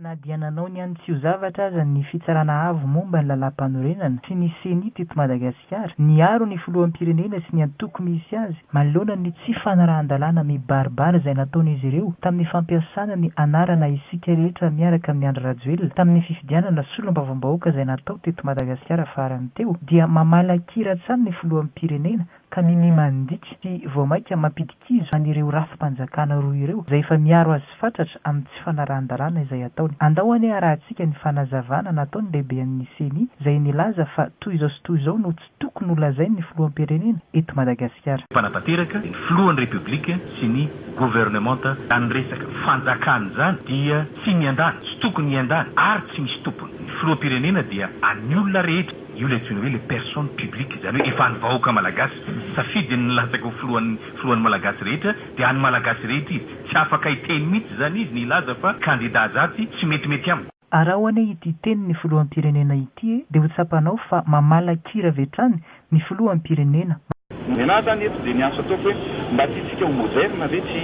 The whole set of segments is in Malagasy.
Na dia nanao ny an'ny tsy ho zavatra aza ny Fitsarana Avo momba ny Lalàmpanorenana sy ny Ceni teto Madagasikara, niaro ny Filoham-pirenena sy ny antoko misy azy manoloana ny tsy fanarahan-dalàna mibaribary izay nataon'izy ireo tamin'ny fampiasana ny anarana Isika rehetra miaraka amin'i Andry Rajoelina tamin'ny fifidianana Solombavambahoaka izay natao teto Madagasikara farany teo, dia mamala kira hatrany ny Filoham-pirenena ka minia mandika sy vao mainka mampidi-kizo an'ireo rafi-panjakana roa ireo izay efa miaro azy fatratra amin'ny tsy fanarahan-dalàna izay ataony. Andao anie harahantsika ny fanazavana nataon'ny lehibean'ny ceni izay nilaza fa toy izao sy toy izao no tsy tokony holazain'ny filoham-pirenena eto Madagasikara. Mpanatanteraka, ny filohan'ny Repoblika sy ny governemanta izany resaka fanjakana izany dia tsy miandany, tsy tokony hiandany ary tsy misy tompony. Ny filoham-pirenena dia an'ny olona rehetra. Io ilay antsoina hoe le personne publique, izany hoe efa an'ny vahoaka malagasy, safidy ny nilatsaka ho filohan'ny filohan'ny malagasy rehetra dia an'ny malagasy rehetra izy, tsy afaka hiteny mihitsy izany izy ny hilaza fa kandida azatsy tsy metimety amiko. Araho anie ity tenin'ny filoham-pirenena ity e, dia ho tsapanao fa mamala kira avy hatrany ny filoham-pirenena, Ny ahy zany eto dia ny asa ataoko hoe mba tiantsika ho moderne ve tsy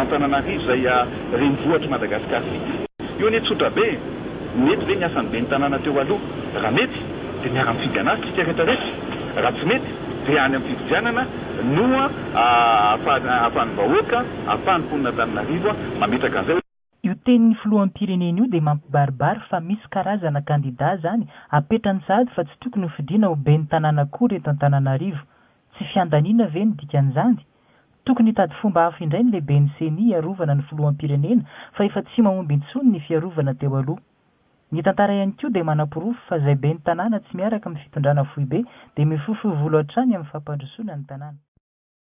Antananarivo izay renivohitr'i Madagasikara vita. Io anie tsotra be e! Mety ve ny asan'ny ben'ny tanàna teo aloha? Raha mety dia miara mifidy anazy tsika rehetra rehetra, raha tsy mety dia any amin'ny fifidianana no ahafahan'ny vahoaka, ahafahan'ny mponin'Antananarivo mametraka an'izay. Io tenin'ny filoham-pirenena io dia mampibaribary fa misy karazana kandida zany apetrany sahady fa tsy tokony ho fidiana ho ben'ny tanàna akory eto Antananarivo. Tsy fiandaniana ve no dikan'izany? Tokony hitady fomba hafa indray ny lehiben'ny ceni hiarovana ny filoham-pirenena fa efa tsy mahomby intsony ny fiarovana teo aloha. Ny tantara ihany koa dia manaporofo fa izay ben'ny tanàna tsy miaraka amin'ny fitondrana foibe dia mifofoy volo hatrany amin'ny fampandrosoana ny tanàna.